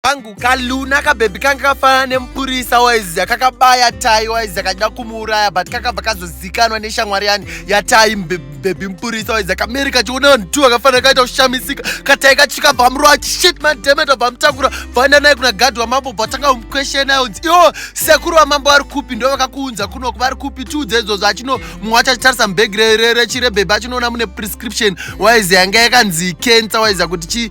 pangu kaluna kabhebhi kanga kafanana nemupurisa waiziya kakabaya tai waiziya kachida kumuuraya but kakabva kazozikanwa neshamwari yani yatai bhebhi mupurisa waiziya kameri kachiona vanhu tu vakafanira kaita kushamisika katai kachika bvamurova chishit mademeta bvamutakura bvaenda naye kuna gadhi wamambo bvatanga umukweshena yonzi iwo sekuru wamambo vari kupi ndo vakakuunza kunoku vari kupi tiudze izvozvo achino mumwe wacho achitarisa mubhegi rechirebhebhi achinoona mune prescription waiziya yanga yakanzi cancer waiziya kuti chi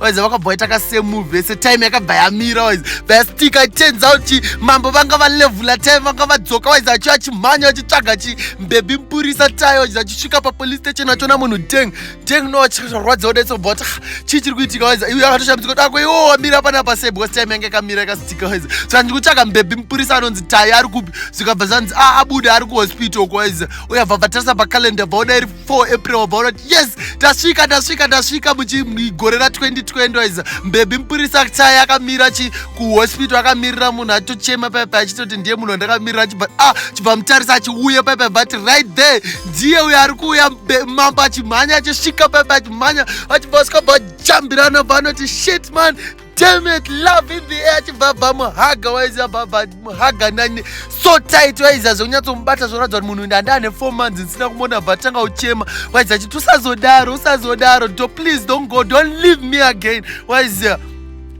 waize vakabva vaita kasemove vese time yakabva yamira waize vastika turns out chi mambo vanga valevula time vanga vadzoka waize achi achimhanya achitsvaga chi mbebi mpurisa tayo waize achisvika papolice station achona munhu deng deng no achirwadza odaitso bva wati chii chiri kuitika waize iwe akatoshambidzika kuti ako iwo wamira pana pase because time yanga yakamira yakastika waize so andiri kutsvaga mbebi mpurisa anonzi tayo ari kupi zvikabva zvanzi a ah, abuda ari kuhospital uko waize uyabva bvatarisa pacalendar bva oda iri 4 april wabva unoti yes tasvika tasvika tasvika muchigore ra 2020 waiza mbebhi mupurisa chaya akamira chi kuhospital akamirira munhu atochema paipa achitoti ndiye munhu andakamirira chibva ah chibva mutarisa achiuya paipa but right there ndiye uyo ari kuuya mambo achimhanya achisvika paipa achimhanya achibva sikabva jambirana vanoti shit man Damn it, love in the air achibva bva muhaga waiziva bva bva muhaga nani so tight waiziva zvekunyatsomubata zvoratidza kuti munhu ndanda ane four months ndisina kumona bva tanga uchema waiziva achiti usazodaro usazodaro do please don't go don't leave me again waiziva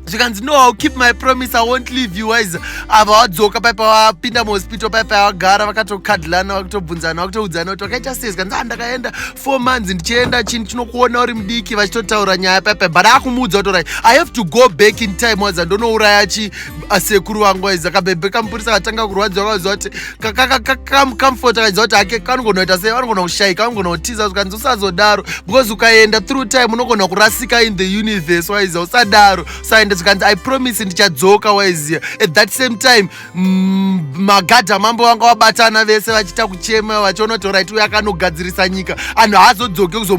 zvikanzi no ill keep my promise i won't leave you wise ava wadzoka paipa wapinda muhospital paipa wagara vakatokadlana vakutobvunzana vakutoudzana kuti wakaita sei zvikanzi andakaenda ah, four months ndichienda chini chinokuona uri mudiki vachitotaura nyaya pepe but akumuudza kuti right i have to go back in time waza ndonouraya chi asekuru wangu waiza kabebe kamupurisa katanga kurwadziwa kaziva kuti kakamcomfort akaziva kuti hake kanogonoita sei vanogona kushaika vanogona kutiza zvikanzi usazodaro because ukaenda through time unogona kurasika in the universe waiziva usadaro usaenda zvikanzi i promise ndichadzoka waiziva at that same time mm, magadhi amambo vanga vabatana vese vachiita kuchema vachiona kuti orit uyo akanogadzirisa nyika anhu haazodzoke kuzomu